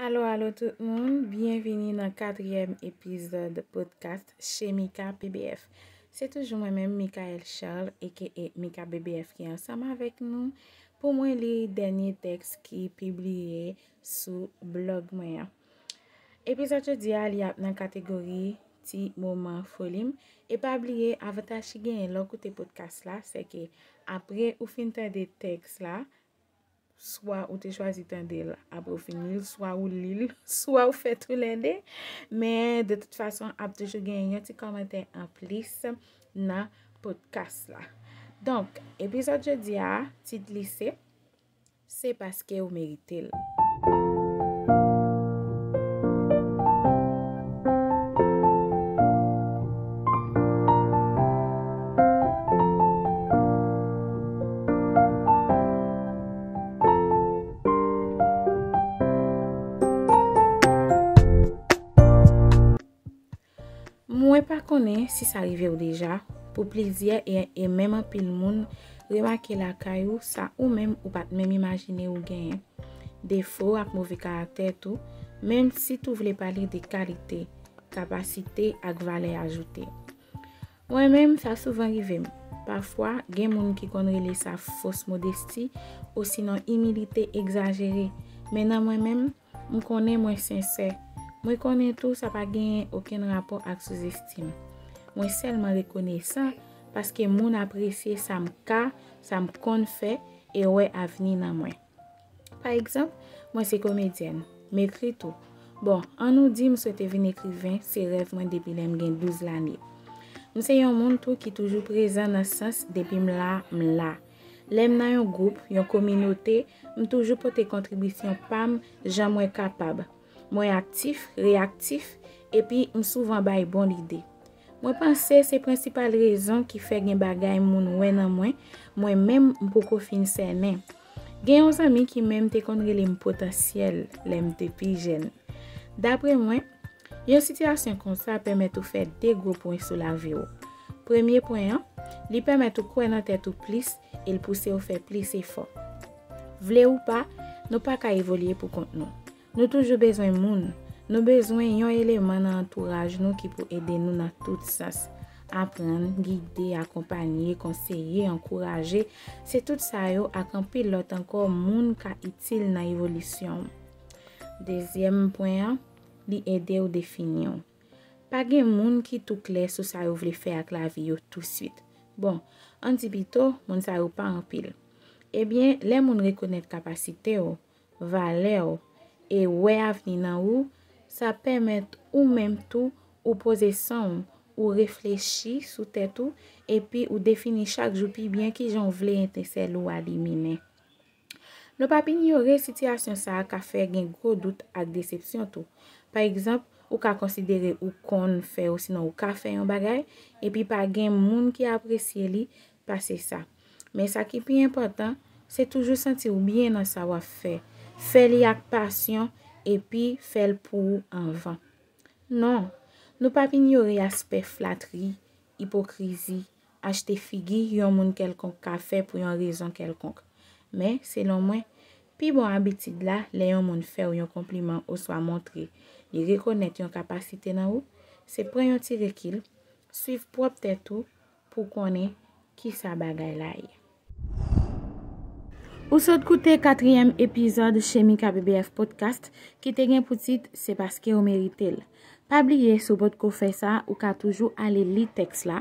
Alo alo tout moun, byenvini nan katriyèm epizòd podcast Chez Mika BBF. Se toujou mwen menm Mikaelle Charles aka Mika BBF ki ansanm avèk nou pou mwen li dènye tèks ki pibliye sou blog mwen an. Epizòd jodi a li ap nan kategori ti moman foli m e pa bliye avantaj ki genyen lè w koute podcast la se ke apre ou fin tande tèks la swa ou te chwazi tande l apre ou fin li l, swa ou li l, swa ou fè tou lè de. Men, de tout fason, ap toujou gen yon ti komantè an plis nan potkas la. Donk, epizòd jodi a, tit li se, Se paske ou merite l. Mwen pa konnen si sa rive ou deja, pou plizyè e menm anpil moun, remake lakay ou sa ou menm ou pat menm imajine ou genyen. Defo ak move karaktè tou, menm si tou vle pale de kalite. kapasite ak valè ajoute. Mwen menm sa souvan rive m. Pafwa, gen moun ki konn rele sa fos modesti osinon imilite egzajere, men nan mwen menm, m konnen mwen sensè. Mwen konnen tou sa pa genyen okenn rapò ak souzestim. Mwen sèlman rekonesan paske moun apresye sa m ka, sa m konn fè e wè avni nan mwen. Pa egzanp, mwen se komedyèn, m ekri tou. Bon, an nou di m swete vin ekriven, se rèv mwen depi lè m gen 12 lane. M se yon moun tou ki toujou prezan nan sans depi m la, m la. Lè m nan yon gwoup, yon kominote, m toujou pote kontribisyon pa m jan mwen kapab. Mwen aktif, reyaktif, epi m souvan bay bon lide. Mwen panse se prensipal rezon ki fè gen bagay moun wè nan mwen, mwen menm m poko fin sènen. Gen yon zanmi ki menm te konn rele m potansyèl lè m te pi jèn. Dapre mwen, yon sitiyasyon konsa pèmèt ou fè de gwo pwen sou lavi ou. Premye pwen an, li pèmèt ou kwè nan tèt ou plis e l pouse w fè plis efò. Vle ou pa, nou pa ka evolye poukont nou. Nou toujou bezwen moun, nou bezwen yon eleman nan antouraj nou ki pou ede nou nan tout sans. Aprann, gide, akonpanye, konseye, ankouraje, se tout sa yo ak anpil lòt ankò moun ka itil nan evolisyon w. Dezyèm pwen an, li ede w defini w. Pa gen moun ki tou klè sou sa yo vle fè ak lavi yo touswit. Bon, ann di pito, moun sa yo pa anpil. Ebyen, lè moun rekonèt kapasite w, valè w, e wè avni nan ou, sa pèmèt ou menm tou ou poze san w, ou reflechi sou tèt ou, epi ou defini chak jou pi byen kijan w vle etensèl ou a liminen. Nou p ap inyore sitiyasyon sa a ka fè gen gwo dout ak desepsyon tou. Pa egzanp, ou ka konsidere ou konn fè osinon ou ka fè yon bagay, epi pa gen moun ki apresye li pase sa. Men sa ki pi enpòtan, se toujou santi w byen nan sa w ap fè. Fè li ak pasyon epi fè l pou ou anvan. Non, nou p ap inyore aspè flatri Ipokrizi, Achte figi yon moun kèlkonk ka fè pou yon rezon kèlkonk. Men, selon mwen, pi bon abitid la, lè yon moun fè ou yon konpliman oswa montre li rekonèt yon kapasite nan ou, se pran yon ti rekil, suiv pwòp tèt ou pou w konnen kisa bagay la ye. Ou sot koute katriyèm epizòd Chemika BBF Podcast ki te gen pou tit Se paske ou merite l. Pa bliye si w potko fè sa, ou ka toujou ale li tèks la.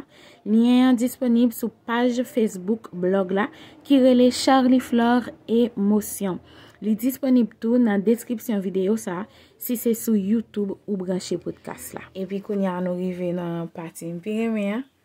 Lyen an disponib sou paj Facebook blog la ki rele Charliflore Emotion. Li disponib tou nan deskripsyon videyo sa si se sou YouTube ou branche podcast la. Epi kounya nou rive nan pati m pi renmen an,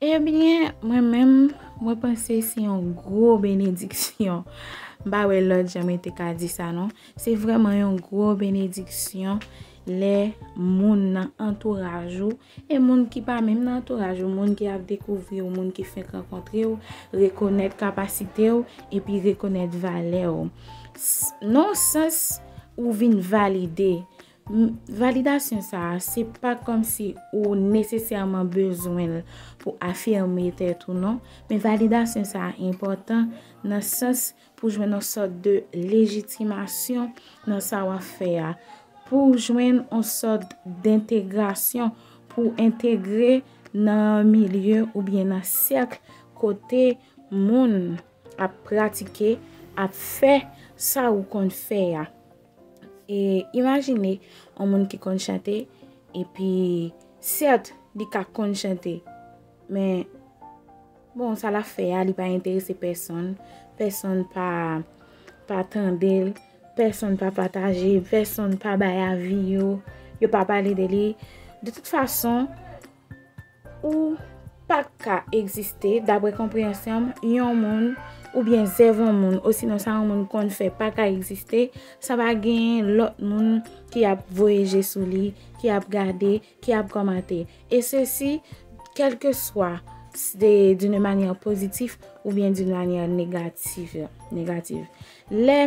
Ebyen mwen menm mwen panse se yon gwo benediksyon. M pa wè lòt jan mwen te ka di sa non. Se vrèman yon gwo benediksyon lè moun nan antouraj ou e moun ki pa menm nan antouraj ou, moun ki ap dekouvri ou, moun ki fenk rankontre ou, rekonèt kapasite ou epi rekonèt valè ou. Non sans ou vin valide. Validasyon sa a, se pa kòmsi ou nesesèman bezwen l pou afime tèt ou non, men validasyon sa a enpòtan nan sans pou jwenn yon sòt de lejitimasyon nan sa w ap fè a, pou w jwenn yon sòt dentegrasyon, pou w entegre nan milye oubyen nan sèk kote moun ap pratike, ap fè sa ou konn fè a. E imajine yon moun ki konn chante, epi sèt li ka konn chante, men bon sa la fè a li pa enterese pèsonn, pèsonn pa tande l, pèsonn pa pataje, pèsonn pa bay avi yo, yo pa pale de li. De tout fason. Ou pa ka egziste, dapre konpreyansyon m, yon moun, oubyen zèv yon moun, osinon sa yon moun konn fè pa ka egziste, san pa genyen lòt moun ki ap voye je sou li, ki ap gade, ki ap kòmante. E se si, kèlke swa, se d'une manyè pozitif, oubyen d'une manyè negatif. Lè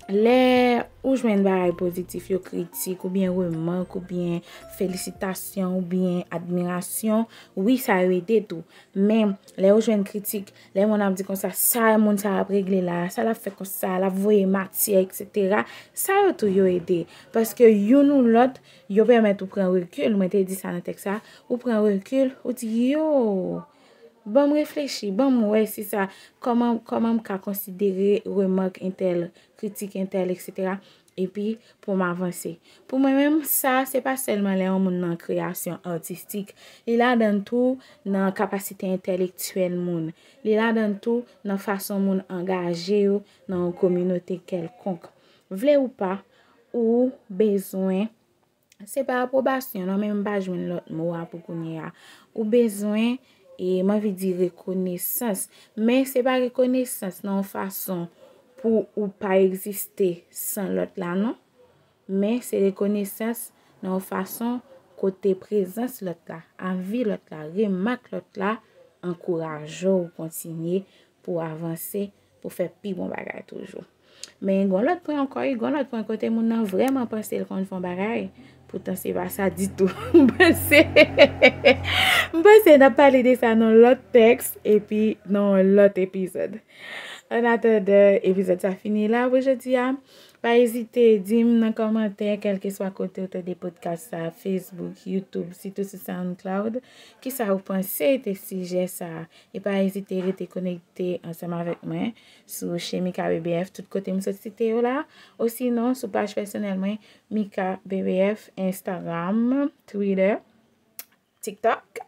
Lè ou jwenn bagay pozitif yo kritik ou byen remak ou byen felisitasyon ou byen admirasyon wi sa yo ede tou men lè ou jwenn kritik lè moun ap di konsa sa moun sa ap regle la sa lap fè konsa lap voye matyè eksetera sa yo tou yo ede paske youn ou lòt yo pèmèt ou pran rekil mwen te di sa nan tèks la ou pran rekil ou di yo Ban m reflechi, ban m wè si sa, kòman, kòman m ka konsidere remake entèl, kritik entèl, eksetera, epi pou m avanse. Pou mwen menm, sa, se pa sèlman lè yon moun nan kreyasyon atistik, li ladann tou nan kapasite entèlektyèl moun, li ladann tou nan fason moun angaje yo nan yon kominote kèlkonk. Vle ou pa, ou bezwen Se pa apwobasyon non men m pa jwenn lòt mo a pou kounye a. Ou bezwen, e m anvi di rekonesans. Men se pa rekonesans nan yon fason pou ou pa egziste san lòt la non. Men se rekonesans nan yon fason kote prezans lòt la, avi lòt la, remak lòt la, ankouraje ou kontinye pou avanse pou fè pi bon bagay toujou. Men gon lòt pwen ankò wi, gon lòt pwen kote moun nan vrèman panse l konn fè yon bagay, poutan se pa sa ditou. M panse, m panse n ap pale de sa nan yon lòt tèks epi nan yon lòt epizòd. Ann atandan, epizòd sa fini la pou jodi a. Pa ezite di m nan kòmantè kèlkeswa kote ou tande podkas sa, Facebook, YouTube, sitou sou SoundCloud, kisa ou panse de sijè sa. E pa ezite rete konekte ansanm avèk mwen sou Chemika BBF tout kote m sot site yo la, osinon sou paj pèsonèl mwen Mika BBF, Instagram, Twitter, TikTok,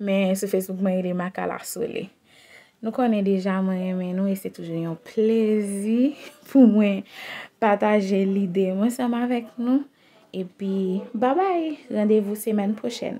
men sou Facebook mwen rele Makala Sole. Nou konnen deja mwen renmen nou e se toujou yon plezi pou mwen pataje lide m ansanm avèk nou. Epi, babay! Randevou semèn pwochèn!